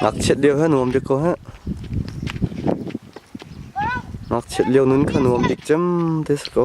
Ngakchiat lio kha nuam bik ko heh. Ngakchiat lio nun kha nuam bik cem te si ko.